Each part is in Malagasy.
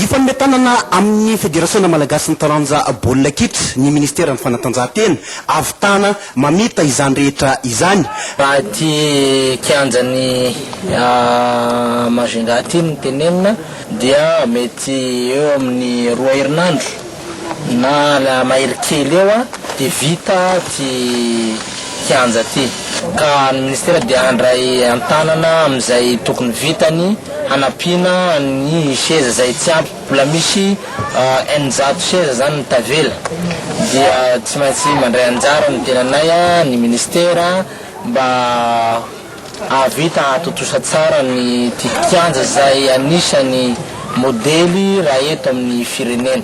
Hifanome tanana amin'ny Federasiona malagasin'ny taranja baolina kitra ny minisiteran'ny fanatanjahantena, ahavitana mamita izany rehetra izany. Raha ity kianjan'i Majunga ity no tenenina dia mety eo amin'ny roa herinandro. Na la mahery kely eo a de vita ty kianja ty ka ny ministera dia handray antanana amin'izay tokony vitany hanampiana ny seza zay tsy ampy bola misy eninjato seza zany ny tavela dia tsy maintsy mandray anjara ny tenanay a ny ministera mba Hahavita hahatontosa tsara ny ity kianja izay anisan'ny modely raha eto amin'ny firenena.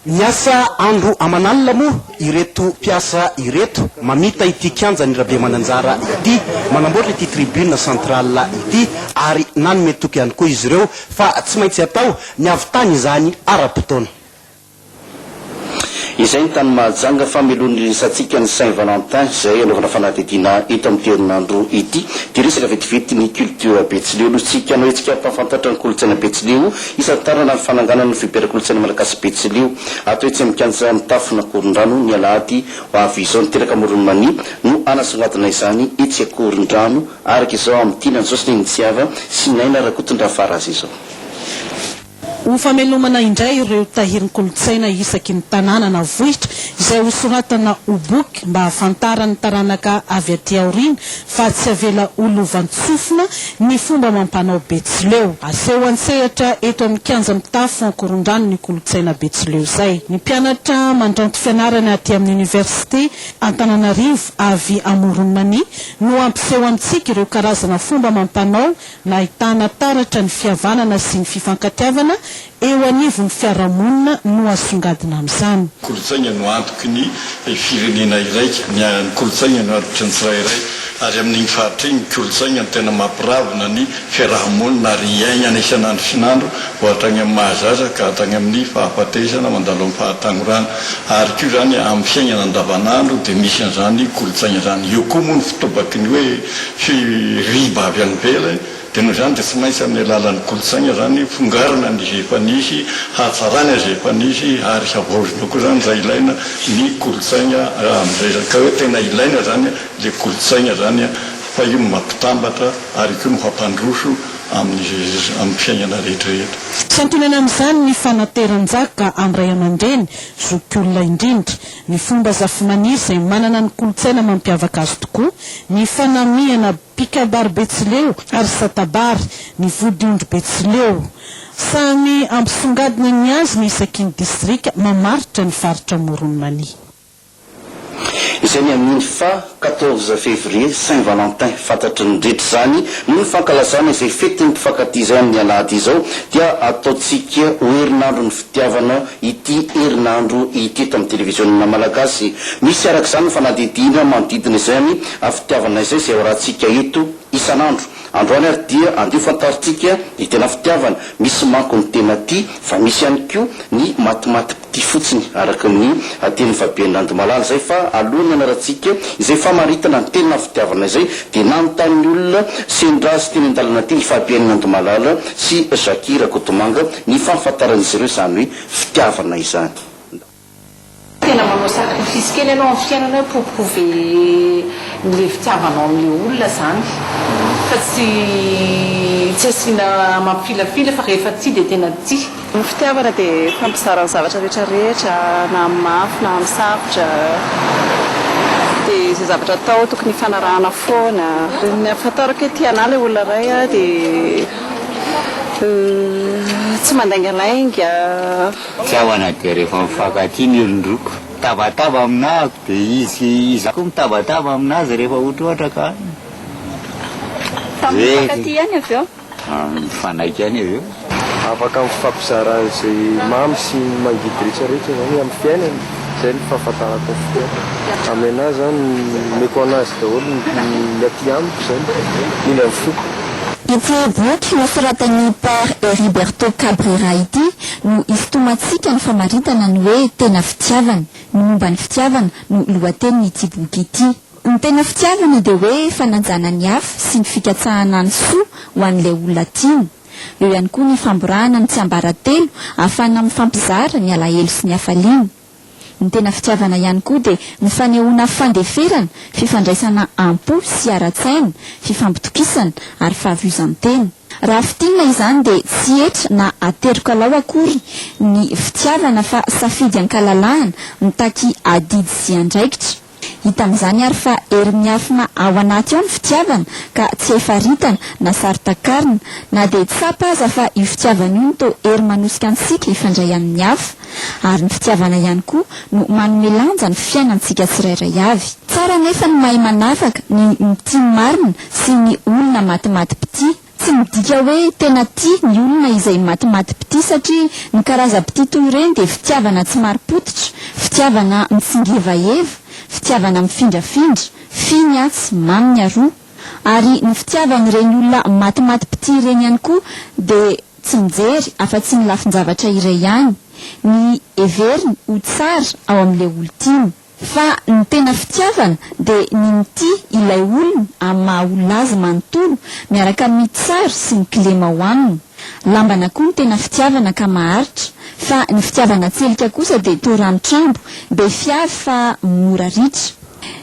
Miasa andro aman'alina moa ireto mpiasa ireto mamita ity kianjan'i Rabemananjara ity, manamboatra ity tribune centrale ity ary nanome toky ihany koa izy ireo fa tsy maintsy atao ny hahavitana izany ara-potoana. Izay ny tany Mahajanga fa melohin'ny Ririsantsika ny Saint Valentin izay anaovana fanadihadiana eto amin'ity herinandro ity dia resaka vetivety ny culture Betsileo no tsy ikanao hetsika hampahafantatra ny kolontsaina Betsileo hisantarana ny fananganana ny Fiberankolontsaina Malagasy Betsileo atao etsy amin'ny Kianja Mitafon'Akorondrano ny alahady ho avy izao ny Teraka Amoron'i Mania no hanasongadina izany etsy Akorondrano araka izao amin'ity nanjoso ny Ntsiava sy Naina Rakotondrafaraza izao. Ho famelomana indray ireo tahirin-kolontsaina isaky ny tanàna na vohitra izay hosoratana ho boky mba hahafantaran'ny taranaka avy aty aoriana fa tsy avela ho lovantsofina ny fomba amam-panao betsileo. Aseho an-tsehatra eto amin'ny kianja mitafo ankorondrano ny kolontsaina betsileo izay. Ny mpianatra mandranto fianarana aty amin'ny Oniversite Antananarivo avy Amoron'i Mania no hampiseho amintsika ireo karazana fomba amam-panao Nahitana taratra ny fihavanana sy ny fifankatiavana eo anivon'ny fiarahamonina no asongadina amin'izany. Kolontsaina no antoky ny firenena iraika. Ny kolontsaina no antitry ny tsirairay ary amin'iny faritra iny ny kolontsaina no tena mampiravona ny fiarahamonina ary iainana isan'androisan'andro vao hatrany amin'ny maha zaza ka hatrany amin'ny fahafatesana mandalo amin'ny fahatagnorana ary koa izany amin'ny fiainana andavan'andro dia misy an'izany kolontsaina izany. Eo koa moa ny fitobaky ny hoe firiba avy any ivelany dia noho izany dia tsy maintsy amin'ny alalan'ny kolontsaina izany fongarina ny izay efa nisy, hatsarana izay efa nisy ary havaozina koa izany raha ilaina ny kolontsaina amin'izay izany ka hoe tena ilaina izany ilay kolontsaina izany fa io no mampitambatra ary koa no hampandroso amin'ny fiainana rehetrarehetra. Santionany amin'izany ny fanateran-jaka amin'ny ray aman-dreny, zokiolona indrindra. Ny fomba zafimaniry izay manana ny kolontsaina mampiavaka azy tokoa, ny fanamihana mpikabary betsileo ary satabary, ny vodiondry betsileo. Samy ampisongadina ny azy ny isaky ny distrika mamaritra ny faritra Amoron'i Mania. Izay ny amin'iny fa Quatorze Février, Saint Valentin, fantatry ny rehetra izany, noho ny fankalazana izay fetin'ny mpifankatia izay amin'ny alahady izao dia ataontsika ho herinandron'ny fitiavana ity herinandro ity eto amin'ny televiziona malagasy. Misy araka izany ny fanadihadiana manodidina izany fitiavana izay izay hoarahantsika eto isan'andro. Androany ary dia andeha ho fantarintsika ny tena fitiavana, misy manko ny tena tia fa misy ihany koa ny matimaty. ity fotsiny araka ny tenin'i Fabienne Randomalala izay fa alohan'ny hanarantsika izay famaritana ny tena fitiavana izay dia nanontany ny olona sendra azy teny an-dalana teny i Fabienne Randomalala sy Jacky Rakotomanga ny fahafantaran'izy ireo izany hoe fitiavana izany. Tena manao sacrifice kely ianao amin'ny fiainana hoe pour prouver an'ilay fitiavanao an'ilay olona izany fa tsy tsy asiana mampifilafila fa rehefa tia dia tena tia. Ny fitiavana dia fampizara ny zavatra rehetra rehetra na amin'ny mafy na amin'ny sarotra dia izay zavatra atao tokony hifanarahana foana. Ny ahafantarako hoe tia anah ilay olona iray aho dia tsy mandaingalainga. Fitiavana dia rehefa mifankatia ny olon-droa. Mitabataba aminah ako dia izy izaho koa mitabataba aminazy rehefa ohatrohatra ka. Tamin'ny mifankatia ihany avy eo. mifanaiky any avy eo. Afaka mifampizara izay mamy sy mangidy rehetra rehetra zany amin'ny fiainana zay ny fahafantarako ny fiainana amin'ny anah zany omeko anazy daholo ny aty amiko zany indrindra ny foko. Ity boky nosoratan'i Père Heriberto Cabrera ity no isintomantsika ny famaritana ny hoe tena fitiavana, ny momba ny fitiavana no lohatenin'ity boky ity. Ny tena fitiavana dia hoe fanajana ny hafa sy ny fikatsahana ny soa ho an'ilay olona tiana. Eo ihany koa ny famborahana ny tsiambaratelo ahafahana mifampizara ny alahelo sy ny hafaliana. Ny tena fitiavana ihany koa dia ny fanehoana fandeferana, fifandraisana am-po sy ara-tsaina, fifampitokisana ary fahavozan-tena. Raha fintinina izany dia tsy hetra na aterokalao akory ny fitiavana fa safidy an-kalalahana mitaky adidy sy andraikitra. Hita amin'izany ary fa hery miafina ao anaty ao ny fitiavana ka tsy hay faritana na saro-takarina, na dia tsapa aza fa io fitiavana io no toa hery manosika antsika hifandray amin'ny hafa. Ary ny fitiavana ihany koa no manome lanja ny fiainantsika tsirairay avy. Tsara anefa ny mahay manavaka ny mitia marina sy ny olona matimatim-pitia. Tsy midika hoe tena tia ny olona izay matimatim-pitia satria ny karazam-pitia toy ireny dia fitiavana tsy marim-pototra, fitiavana mitsingevaheva, fitiavana mifindrafindra, finy atsy, maminy aroa. Ary ny fitiavan'ireny olona matimatim-pitia ireny ihany koa dia tsy mijery afa-tsy ny lafin-javatra iray ihany, ny heveriny ho tsara ao amin'ilay olon-tiany. Fa ny tena fitiavana dia ny mitia ilay olona amin'ny maha olona azy manontolo miaraka amin'ny tsara sy ny kilema ao aminy. Lambana koa ny tena fitiavana ka maharitra. Fa ny fitiavana tselika kosa dia toa ranotrambo, be fiavy fa mora ritra.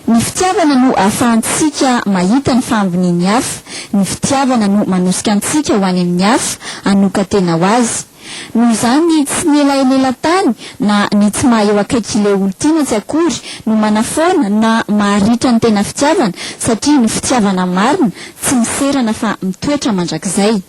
Ny fitiavana no ahafahantsika mahita ny fahambonian'ny hafa. Ny fitiavana no manosika antsika ho any amin'ny hafa, hanokan-tena ho azy. Noho izany ny tsy mila enelan-tany na ny tsy maha eo akaiky ilay olon-tiana tsy akory no manafoana na maharitra ny tena fitiavana satria ny fitiavana marina tsy miserana fa mitoetra mandrakizay.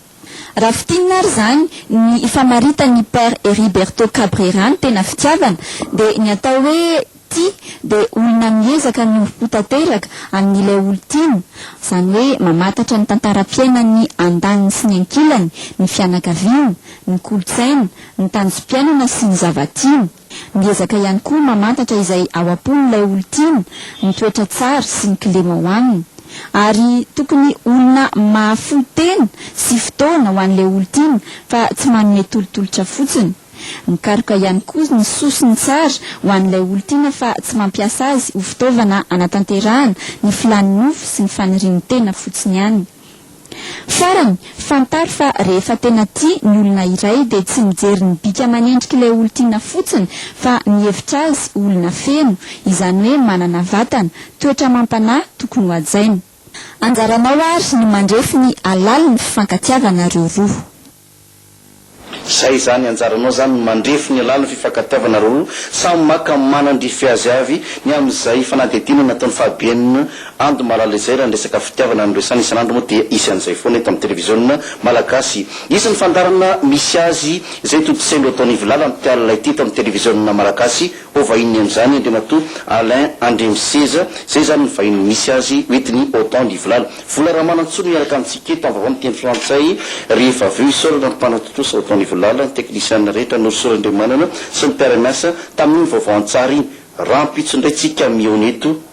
Raha fintinina ary izany ny famaritan'ny Père Heriberto Cabrera ny tena fitiavana dia ny atao hoe. Tia dia olona miezaka ny ho tanteraka amin'ilay olon-tiany, izany hoe mamantatra ny tantaram-piainan'ny andaniny sy ny ankilany, ny fianakaviana, ny kolontsaina, ny tanjom-piainana sy ny zava-tiany. Miezaka ihany koa mamantatra izay ao am-pon'ilay olon-tiany, ny toetra tsara sy ny kilema ao aminy. Ary tokony olona mahafoy tena sy fotoana ho an'ilay olon-tiana fa tsy manome tolotolotra fotsiny. Mikaroka ihany koa ny soa sy ny tsara ho an'ilay olon-tiana fa tsy mampiasa azy ho fitaovana hanatanterahana ny filàn'ny nofo sy ny fanirian'ny tena fotsiny ihany. Farany, fantaro fa rehefa tena tia ny olona iray dia tsy mijery ny bika aman'endrik'ilay olon-tiana fotsiny fa mihevitra azy ho olona feno, izany hoe manana vatana, toetra amam-panahy tokony hohajaina. Anjaranao àry ny mandrefy ny halalin'ny fifankatiavanareo roa. Zay zany anjaranao zany mandrefy ny alalan'ny fifankatiavana roa samy maka manandrify azy avy ny amin'izay fanadihadiana nataon'ny fahabean and malala izay raha ny resaka fitiavana no resany isan'andro moa dia hisy an'izay foana eto amin'ny televiziona malagasy hisy ny fandaharana misy azy izay tontosain-dro ataon'ivolala mpialona ity eto amin'ny televiziona malagasy Ho vahininy amin'izany Andriamatoa Alain Andriamiseza, izay izany ny vahiny misy azy hoentin'ny Otan ny Vilala. Vola Ramanantsoa no miaraka amintsika eto amin'ny vaovao miteny frantsay rehefa avy eo. Isaorana ny mpanatontosa Otan ny Vilala, ny teknisianina rehetra Norosoa Randriamanana sy ny mpiara-miasa tamin'iny vaovao an-tsary iny. Rahampitso indray tsika mihaona eto.